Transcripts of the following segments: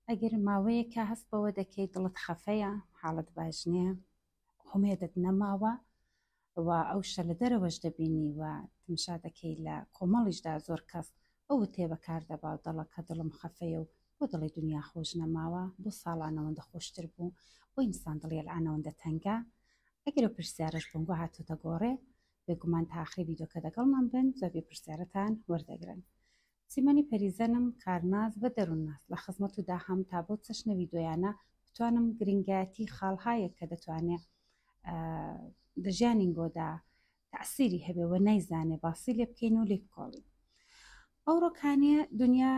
ئەگەر ماوەیەکە هەست بەوە دەکەیت دڵت خەفەیە، حاڵت باش نییە، هومێدت نەماوە و ئەو شتە لە دەرەوەش دەبینی و تمشا دەکەی لە کۆمەڵیشدا زۆر کەس ئەو وتەیە بەکار دەبا و دەڵە کە دڵم خەفەیە و بۆ دەڵێی دونیا خۆش نەماوە، بۆ ساڵان ئەوەندە خۆشتر بوو، بۆ ئینسان دڵی ئەلئان ئەوەندە تەنگە؟ ئەگەر ئەو پرسیارەش بۆنگۆ هاتۆتە گۆڕێ، بێگومان تا ئاخری ڤیدیۆکە دەگەڵمان بن جوابی پرسیارەتان وەردەگرن. سیمەنی پەریزەنم کارناس بە دەرونناس لە خزمەتو دا هەم تا بەو چەشنە ویدۆیانە بتوانم گرینگایەتی خاڵ هایەک کە دەتوانێ دە ژیانین بۆ دا تەعسیری هەبێ وە نایزانێ باسی لێ بکەین و لێ بکۆڵین ئەو ڕۆکانێ دنیا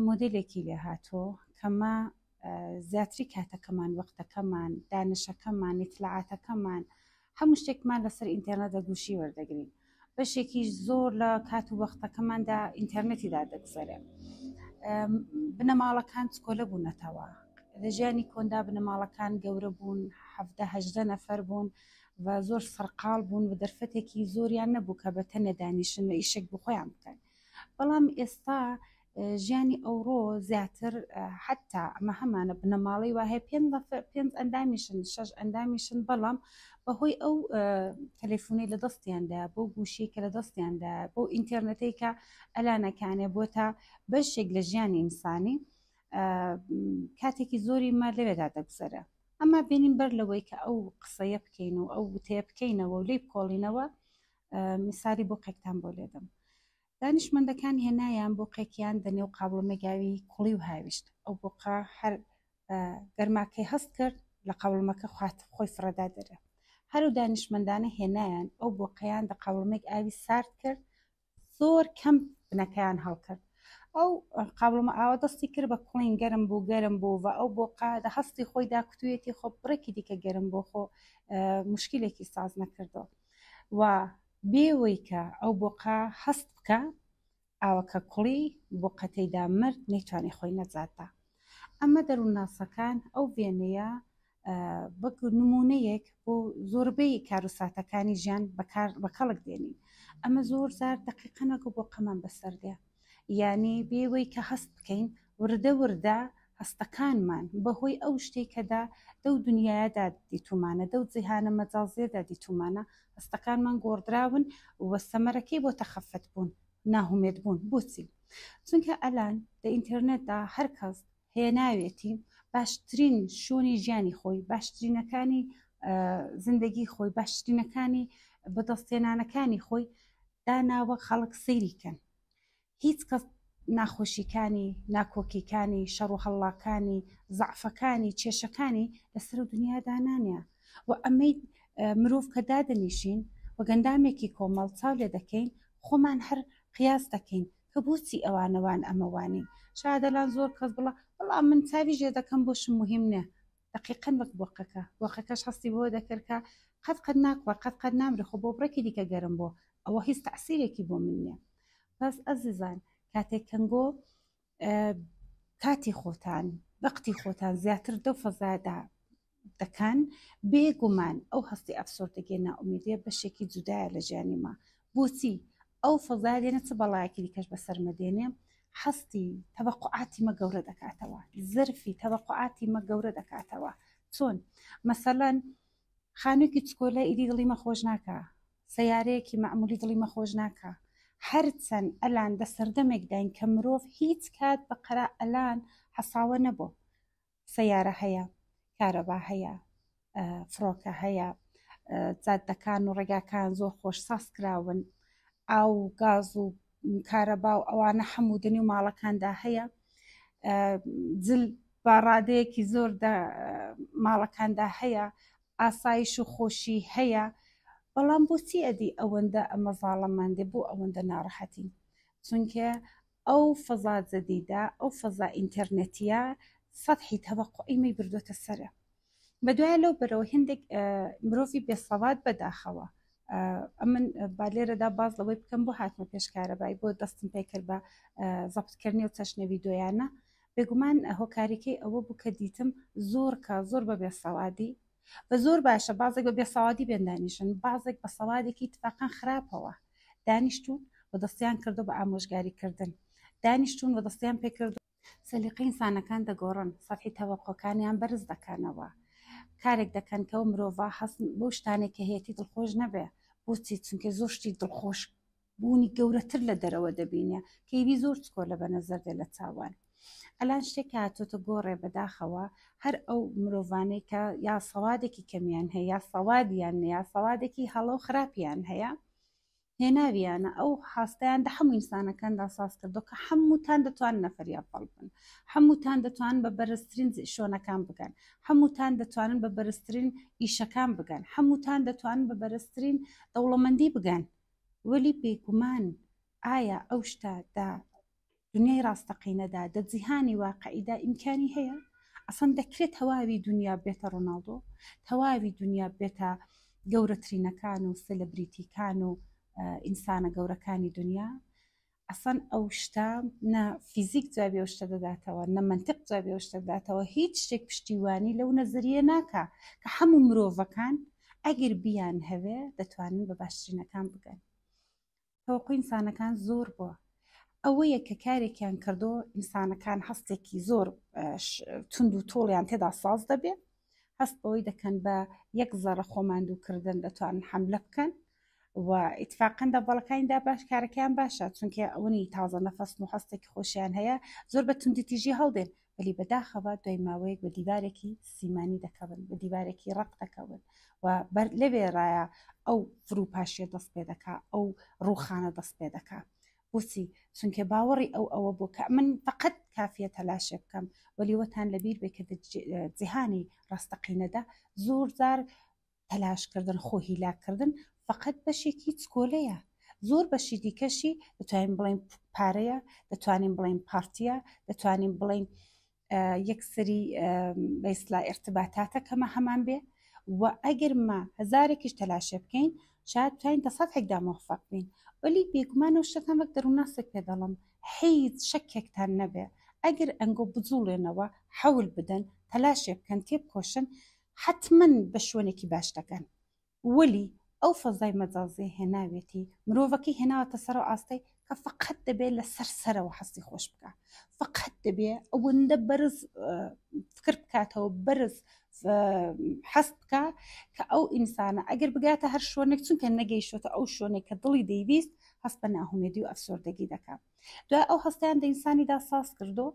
مۆدلێکی لێ هاتۆ کەمە زیاتری کاتەکەمان وەختەکەمان دانشەکەمان نیتلاعاتەکەمان هەموو شتێکمان لەسەر ئینتەرنێت دەگوشی وەردەگرین بەشێکیش زۆر لە کات و وەختەکەماندا ئینتەرنێتیدا دەگوزەرێن بنەماڵەکان چکۆلە بوونەتەوە لە ژیانی کۆندا بنەماڵەکان گەورە بوون هەدە نەفەر بوون و زۆر سەرقال بوون و دەرفەتێکی زۆریان نەبوو کە بە تەنێ دانیشن و ئیشێک بخۆیان بکەن بەڵام ئێستا ژیانی ئەوڕۆ زیاتر حتا ئەمە هەمانە بنەماڵەی واهەیە پێنج ئەندامیشن شەش ئەندامیشن بەڵام بەهۆی ئەو تەلەفۆنی لە دەستیاندا بۆ گوشی کە لە دەستیاندا بۆ ئینتەرنەتەی کە ئەلانەکانێ بۆ تا بەشێک لە ژیانی ئینسانی کاتێکی زۆری ما لەوێدا دەگوزەرە ئەما بینین بەر لەوەی کە ئەو قسەیە بکەین و ئەو وتەیە بکەینەوە و لی بکۆڵینەوە میساری بۆ قێکتان بۆ لێدەم دانشمەندەکان هێنایان بۆقێکیان دە نێو قابڵمێک ئاوی کوڵی و هاویشت ئەو بۆقە هەر بە گەرماکەی هەست کرد لە قابڵمەکە خوات خۆی فڕەدا دەرێ هەر و دانشمەندانە هێنایان ئەو بۆقەیان دە قابڵمێک ئاوی سارد کرد زۆر کەم بنەکەیان هەڵکرد ئەو قابلمە ئاوە دەستی کرد بە کوڵین گەرم بوو گەرم بوو و ئەو بۆ قادە هەستی خۆی داکوتویەتی خۆ بڕێکی دیکە گەرم بۆ خۆ مشکلێکی ساز نەکردەوە و بێوەی کە ئەو بۆقە هەست بکا ئاوەکە کوڵی بۆقە تێیدا مرد نەیتوانی خۆی نەجات دا ئەمە دەروونناسەکان ئەو وێنەیە بەک نمونەیەک بۆ زۆربەی کاروساتەکانی ژیان بەکار بە کەڵک دێنین ئەمە زۆر زار دقیقەنەکە بۆ قەمان بەسەردێ یانی بێ وەی کە هەست بکەین وردە وردە هەستەکانمان بە هۆی ئەو شتەی کە دە دەو دنیایەدا دیتومانە دەو جیهانە مەجازیەدا دیتومانە هەستەکانمان گۆڕدراون و سەمەرەکەی بۆتە خەفەت بوون ناهومێد بوون بۆچی چونکە ئەلان دە ئینتێرنێتدا هەرکەس هێناوێتی باشترین شوونی ژیانی خۆی باشترینەکانی زندگی خۆی باشترینەکانی بەدەستێنانەکانی خۆی داناوە خەڵک سەیریکەن هیچ کەس ناخۆشیەکانی ناکۆکیەکانی شەڕ و هەڵڵاکانی زعفەکانی کێشەکانی لەسەر و دنیا دانانە و ئەمەی مرۆڤ کە دادەنیشین و گەندامێکی کۆمەڵ چاو لێ دەکەین خۆمان هەر قیاس دەکەین کە بۆچی ئەوانە وان ئەمە وانین شادەلان زۆر کەس بڵا بەڵام من چاوی ژێ دەکەم بۆشم مهم نە دقیقەن وەک بۆقەکە بۆقەکەش هەستی بۆ دەکرد کە قەت قەت ناکوە قەت قەت نامرێ خۆ بۆ بڕێکی دیکە گەرم بۆ ئەوە هیچ تەعسیرێکی بۆ من نیە بەس ئەزیزان کاتێک کەنگۆ کاتی خۆتان بەقتی خۆتان زیاتر دەو فەزادا دەکەن بێ گومان ئەو هەستی ئەفسۆردەگێ نائومێدیە بەشێکی جودایە لە ژیانی ما بۆچی ئەو فەزای لێنە چ بەڵایەکی دیکەش بەسەرمە دێنێ حەستی تەبقعاتی مە گەورە دەکاتەوە زەرفی تەبقعاتی مە گەورە دەکاتەوە چۆن مەسەلەن خانوێکی چکۆلە ئیدی دڵی مە خۆش ناکە سیارەیەکی معمولی دڵی مە خۆش ناکە هەرچەند ئەلان دە سەردەمێکداین کە مرۆڤ هیچ کات بە قەرا ئەلان حەساوە نەبوو سەیارە هەیە کارەبا هەیە فڕۆکە هەیە جادەکان و ڕێگاکان زۆر خۆش ساز کراون ئاو و گاز و کارەبا و ئەوانە حەمودنی و ماڵەکاندا هەیە جل بە ڕادەیەکی زۆر ماڵەکاندا هەیە ئاسایش و خۆشی هەیە بەڵام بۆچی ئەدی ئەوەندە ئەمە زاڵەماندێ بۆ ئەوەندە ناڕەحەتین چونکە ئەو فەزا جەدیدە، ئەو فەزا ئینتەرنێتیە سەتحی تەوەقوعی مەی بردۆتە سەرە. بەدوایە لەو بەرەوە هێندێک مرۆڤی بێسەواد بەداخەوە ئەمن با لێرەدا باز لەوەی بکەم بۆ هاتمە پێش کارەبای بۆ دەستم پێکرد بە زەبتکردنی و چەشنە ویدۆیانە بێگومان هۆکاریکەی ئەوە بوو کە دیتم زۆر کا زۆر بە بێسەوادی بە زۆر باشە بازێک بە بێسەوادی بێن دانیشن بازێک بە سەوادێکی تفاقەن خراپەوە دانیشتون و دەستیان کردو بە ئامۆژگاری کردن دانیشتون و دەستیان پێکردو سەلیقەی ئینسانەکان دەگۆڕن سەتحی تەوەقەکانیان بەرز دەکەنەوە کارێک دەکەن کەو مرۆڤە هەست بەو شتانێک کە هەیەتی دڵخۆش نەبێ بۆچی چونکە زۆر شتی دڵخۆش بوونی گەورەتر لە دەرەوە دەبینێ کەیبی زۆر چکۆلە بە نەزەر دێ لە چاوان ئەلان شتێک هاتۆتە گۆڕێ بەداخەوە هەر ئەو مرۆڤانەی کە یا سەوادێکی کەمیان هەیە یا سەوادیان یا سەوادێکی هەڵە و خراپیان هەیە هێناویانە ئەو هاستیان دە هەموو ئینسانەکاندا ساز کردو کە هەمووتان دەتوان نەفریا پڵ بن هەمووتان دەتوان بە بەرزترین شۆنەکان بگەن هەمووتان دەتوانن بە بەرزترین ئیشەکان بگەن هەمووتان دەتوان بە بەرزترین دەوڵەمەندی بگەن وەلی بێگومان ئایا ئەو شتە دە دنیای ڕاستەقینەدا دە جیهانی واقعیدا ئیمکانی هەیە ئەسەن دەکرێت تەواوی دنیا بێتە ڕۆناڵدۆ تەواوی دنیا بێتە گەورەترینەکان و سلبریتیکان و ئینسانە گەورەکانی دنیا ئەسڵەن ئەو شتە نە فیزیک جوابی ئەو شتە دەداتەوە نە منتیق جوابی ئەو شتە دەداتەوە هیچ شتێک پشتیوانی لەو نەزەریە ناکا کە هەموو مرۆڤەکان ئەگەر بیان هەوێ دەتوانن بە باشترینەکان بگەن تەوەقوی ئینسانەکان زۆر بووە ئەوەیە کە کارێکیان کردو ئینسانەکان هەستێکی زۆر تونند و تۆڵیان تێدا ساز دەبێت هەست بەوەی دەکەن بە یەک زەڕە خۆماندووکردن دەتوانن حملە بکەن و ئیتفاقەن دا بەڵەکانیدا باش کارەکەیان باشە چونکە ئەونی تازە نەفەست و هەستێکی خۆشیان هەیە زۆر بە توندی تیژی هەڵدێن ولی بەداخەوە دوای ماوەیەک بە دیوارێکی سیمانی دەکەون بە دیوارێکی ڕق دەکەون و بەر لەوێرایە ئەو فروپاشیە دەست پێ دەکا ئەو ڕوخانە دەست پێ دەکا بۆچی چونکە باوەڕی ئەو ئەوە بۆ کە من فقط کافیە تەلاشێ بکەم وەلیوەتان لەبیر بێکرد جیهانی ڕاستەقینەدا زۆر زار تەلاش کردن خۆ هیلاک کردن فەقەت بەشێکی چکۆلەیە زۆر بەشی دیکەشی دەتوانین بڵین پارەیە دەتوانین بڵین پارتیە دەتوانین بڵین یەکسری بەیسلا ارتباتاتە کەمە هەمان بێ و ئەگەر ما هزارێکیش تەلاشە بکەین شاید توانین دەسەد هەکدا مۆفق بین ولی بێگومان و شتان وەک دەروونناسێک پێ دەڵم حیز شەکێکتان نەبێ ئەگەر ئەنگۆ بجوڵێنەوە حەول بدەن تەلاشێ بکەن تێ بکۆشن حەتمەن بە شوێنێکی باش دەگەن وەلی ئەو فەزای مەجازیە هێناوێتی مرۆڤەکەی هێناوەتە سەر و ئاستەی کە فقەت دەبێت لە سەر سەرەوە هەستی خۆش بکە فقەت دەبێت ئەوەندە بەرز فکر بکاتەوە بەرز حەست بکە کە ئەو ئینسانە ئەگەر بگاتە هەر شوێنێک چونکە نەگەیشتە ئەو شوێنێک کە دڵی دەیویست هەست بە ناهومێدی و ئەفسۆردەگی دەکات دوای ئەو هەستیان دەئینسانیدا ساز کردو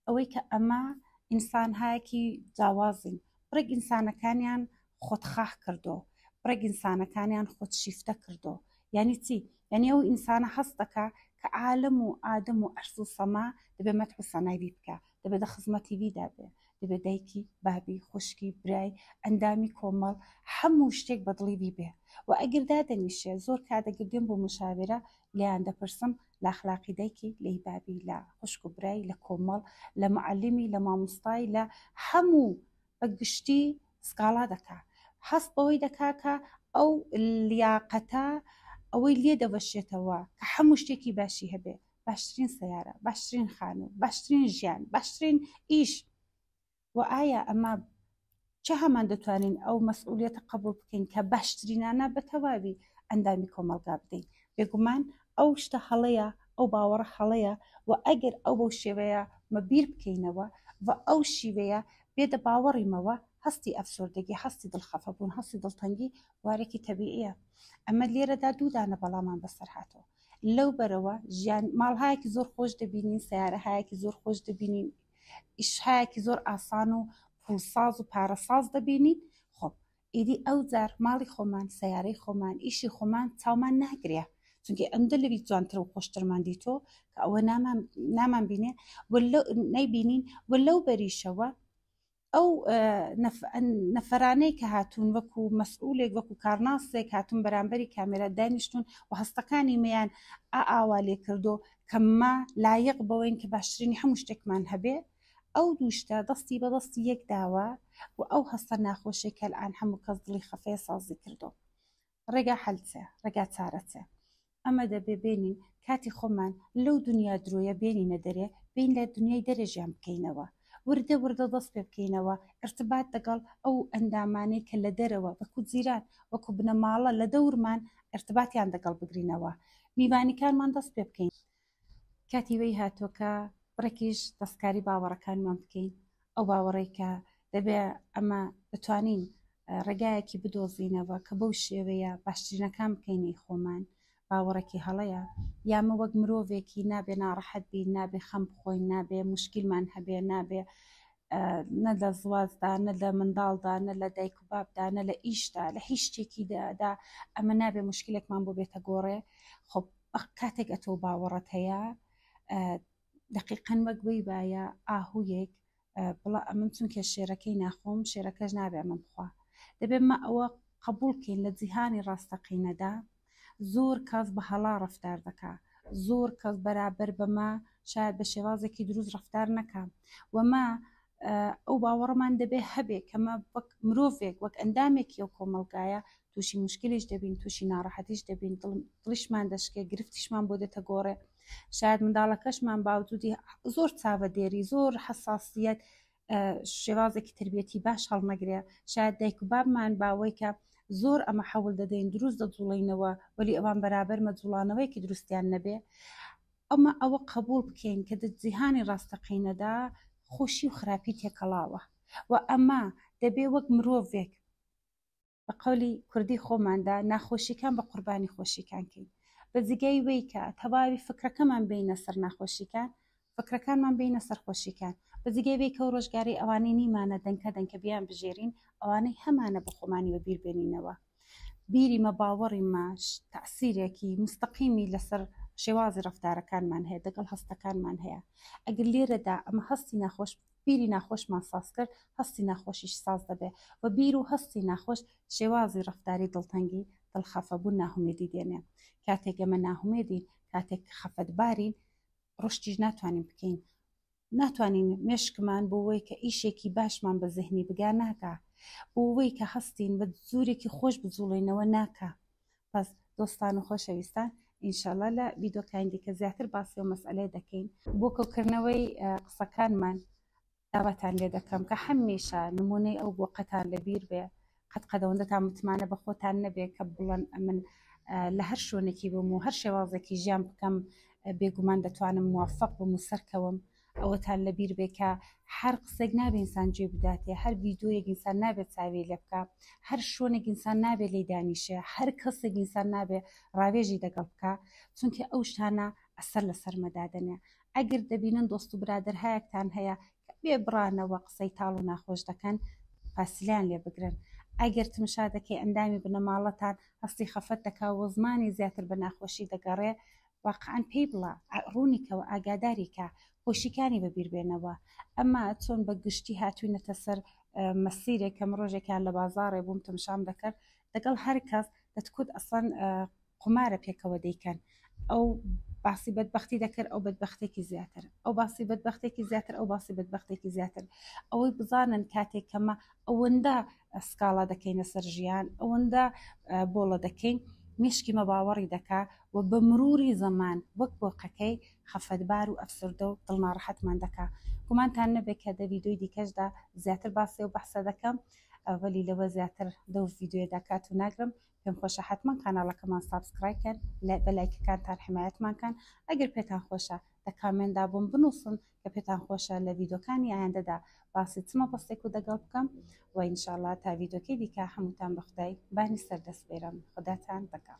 ئەوەی کە ئەمە ئینسان هایەکی جاوازین بڕێک ئینسانەکانیان خۆتخاخ کردو بڕێک ئینسانەکانیان خۆت شیفتە کردو یعنی چی یعنی ئەو ئینسانە هەست دەکا کە عالم و ئادەم و عەرز و سەما دەبێ مەدح و سەنای بی بکا دەبێ دە خزمەتی بی دابێ دەبێ دایکی بابی خوشکی برای ئەندامی کۆمەڵ هەموو شتێک بەدڵی بی بێ و ئەگر دادەنیشێ زۆر کات ئەگر دێم بۆ مشاوێرە لێیان دەپرسم لە ئەخلاقی دایکی لەی بابی لە خوشک و برای لە کۆمەڵ لە معلمی لە مامۆستای لە هەموو بە گشتی سکاڵا دەکا حەست بەوەی دەکا کە ئەو لیاقەتە ئەوەی لێ دەبەشێتەوە کە هەموو شتێکی باشی هەبێ باشترین سیارە باشترین خانوو باشترین ژیان باشترین ئیش و ئایا ئەمە چ هەمان دەتوانین ئەو مەسئولیەتە قبول بکەین کە باشترینانە بە تەواوی ئەندامی کۆمەلگا بدەین بێگومان ئەو شتە هەڵەیە ئەو باوەڕە هەڵەیە و ئەگەر ئەو بەو شێوەیە مە بیر بکەینەوە و ئەو شیوەیە بێدە باوەڕیمەوە هەستی ئەفسۆردەگی هەستی دڵخەفەبوون هەستی دڵتەنگی وارێکی تەبیعە ئەمە لێرەدا دوودانە بەڵامان بەسەر هاتەوە لەو بەرەوە ژیان ماڵهایەکی زۆر خۆش دەبینین سیارەهایەکی زۆر خۆش دەبینین ئیشهایەکی زۆر ئاسان و پوڵساز و پارەساز دەبینین خۆ ئیدی ئەو جار ماڵی خۆمان سیارەی خۆمان ئیشی خۆمان چاومان ناگرێ چونکی ئەندە لەوی جوانتر و خۆشترمان دیتۆ کە ئەوە نامان بینێ نەیبینین و لەو بەریشەوە ئەو نەفەرانەی کە هاتوون وەکو مەسئولێک وەکو کارناسێک هاتون بەرامبەری کامێرا دانیشتون و هەستەکانی میان ئاوا لێ کردو کەمما لایق بەوەین کە باشترینی هەموو شتێکمان هەبێ ئەو دووشتە دەستی بە دەستی یەک داوە و ئەو هەستە ناخۆشێک کە ئەلان هەموو کەس دڵی خەفەیە سازی کردو ڕێگا حەل چێ ڕێگا چارە چێ ئەمە دەبێ بێنین کاتی خۆمان لەو دنیا درۆیە بێنینە دەرێ بین لە دنیای دەرەژیان بکەینەوە وردە وردە دەست پێ بکەینەوە ارتبات دەگەڵ ئەو ئەندامانەی کە لە دەرەوە وەکو جیران وەکو بنەماڵە لە دەورمان ارتباتیان دەگەڵ بگرینەوە میوانیکانمان دەست پێ بکەین کاتی وی هاتووە کە بڕێکیش دەستکاری باوەڕەکانمان بکەین ئەو باوەڕەی کە دەبێ ئەمە بتوانین ڕێگایەکی بدۆزینەوە کە بەو شێوەیە باشترینەکان بکەینەی خۆمان باوەڕێکی هەڵەیە یامە وەک مرۆڤێکی نابێ ناڕەحەت بین نابێ خەم بخۆین نابێ مشکلمان هەبێ نابێ نە لە زوازدا نە لە منداڵدا نە لە دایک و بابدا نە لە ئیشدا لە هیچ شتێکیدا ئەمە نابێ مشکلێکمان بۆ بێتە گۆڕێ خۆ ئەخ کاتێک ئەتۆ باوەڕت هەیە دقیقەن وەک بی باە ئاهویێک بڵە ئەمن چونکە شێرەکەی ناخۆم شێرەکەش نابێ ئەمە بخوا دەبێت مە ئەوە قبولکەین لە جیهانی ڕاستەقینەدا زۆر کەس بە هەڵا ڕفتار دەکا زۆر کەس بەرابەر بەمە شاید بە شێوازێکی دروست ڕفتار نەکە وەمە ئەو باوەڕمان دەبێ هەبێ کەمە وەک مرۆڤێک وەک ئەندامێکی ئەو کۆمەلگایە تووشی مشکلیش دەبین تووشی ناڕەحەتیش دەبین دڵیشمان دەشکێ گرفتیشمان بۆ دێتە گۆڕێ شاید منداڵەکەشمان باوجودی زۆر چاوە دێری زۆر حساسیت شێوازێکی تربیەتی باش هەڵنەگرێ شاید دایک و بابمان باوەی کە زۆر ئەمە حەول دەدەین دروست دەجوڵینەوە وەلی ئەوان بەرابەر مەجوڵانەوەیکی دروستیان نەبێ ئەمە ئەوە قبول بکەین کە جیهانی ڕاستەقینەدا خۆشی و خراپی تێکەڵاوە و ئەمە دەبێ وەک مرۆڤێک بە قەولی کوردی خۆماندا ناخۆشیکان بە قوربانی خۆشیکان کەین بە جگەی ویکە تەواوی فکرەکەمان بینە سەر ناخۆشیکان فکرەکانمان بینە سەرخۆشیکان بە جگەی ویکە و ڕۆژگاری ئەوانەی نیمانە دەنکە دەنکە بیان بژێرین ئەوانەی هەمانە بە خۆمانی بە بیر بێنینەوە بیری مە باوەڕی ماش تاسیرێکی مستەقیمی لەسەر شێوازی ڕفتارەکانمان هەیە دەگەڵ هەستەکانمان هەیە ئەگەر لێرەدا ئەمە هەستی ناخۆش بیری ناخۆشمان ساز کرد، هەستی ناخۆشیش ساز دەبێ و بیر و هەستی ناخۆش شێوازی ڕەفتاری دڵتەنگی، دڵخەفەبوون، ناهومێدی دێنێ. کاتێک ئێمە ناهومێدین، کاتێک خەفەتبارین، ڕشتیش ناتوانین بکەین. ناتوانین مێشکمان بۆ وەی کە ئیشێکی باشمان بە زهنی بگا ناگا. بۆ وەی کە هەستین بە جورێکی خۆش بجوڵێینەوە ناکا. بەس دۆستان و خۆشەویستان ئینشاءاللە لە ڤیدۆکانی دیکە زیاتر باسی و مەسئلەی دەکەین بۆ کەوکردنەوەی قسەکانمان داواتان لێ دەکەم کە هەمیشە نمونەی ئەو بۆ قەتان لە بیر بێ قەت قەدەوەندەتان متمانە بە خۆتان نەبێ کە بڵەن ئەمن لە هەر شوێنێکی بم و هەر شێوازێکی ژیان بکەم بێگومان دەتوانم موفق بم و سەرکەوم ئەوەتان لەبیر بێ کە هەر قسەێک نابێ ئینسان جێ بداتێ هەر ڤیدۆیەک ئینسان نابێت چاوی لێ بکا هەر شوێنێک ئینسان نابێ لێی دانیشێ هەر کەسێک ئینسان نابێ ڕاوێژی دەگەڵ بکا چونکە ئەو شتانە ئەسەر لە سەرمە دادەنێ ئەگەر دەبینن دۆست و برادەر هەیەکتان هەیە کە بێ بڕانەوە قسەی تاڵ و ناخۆش دەکەن فاسیلیان لێ بگرن ئەگەر تمشا دەکەی ئەندامی بنەماڵەتان هەستی خەفەت دەکا و زمانی زیاتر بە ناخۆشی دەگەڕێ واقعەن پێی بڵە ڕوونی کەوە ئاگاداری کە خۆشیکانی بە بیر بێنەوە ئەمە چۆن بە گشتی هاتوینەتە سەر مەسیرێک کەم ڕۆژێکیان لە بازاڕێ بووم تەمشام دەکرد لەگەڵ هەر کەس دەتکوت ئەسڵەن قمارە پێکەوە دەیکەن ئەو باسی بەدبختی دەکرد ئەو بەدبختێکی زیاتر ئەو باسی بەدبختێکی زیاتر ئەو باسی بەدبختێکی زیاتر ئەوەی بزانن کاتێک کەمە ئەوەندە سکاڵا دەکەینە سەر ژیان ئەوەندە بۆڵە دەکەین مشکی مەباوەڕی دەکا و بە مروری زەمان وەک بۆقەکەی خەفەتبار و ئەفسردە و دڵناڕەحەتمان دەکا گومانتان نەبێت کە دە ڤیددیوی دیکەشدا زیاتر باسی و بەحسە دەکەم ئەوەلی لەوە زیاتر لەو ڤیددیوە داکات و ناگرم پێم خۆشە حتمما کاناڵەکەمان سابسکرایکەن لە بەلایکەکانتان حمایەتمانکەن ئەگەر پێتان خۆشە دە کامێندا بووم بنووسن کە پێتان خۆشە لە ڤیدۆکانی ئایندەدا باسی چ مەبەستێک و دەگەڵ بکەم و ئینشاءاللە تا ڤیدۆکەی دیکە هەمووتان بە خودای بانی سەردەست بێرم خوداتان دەگەڵ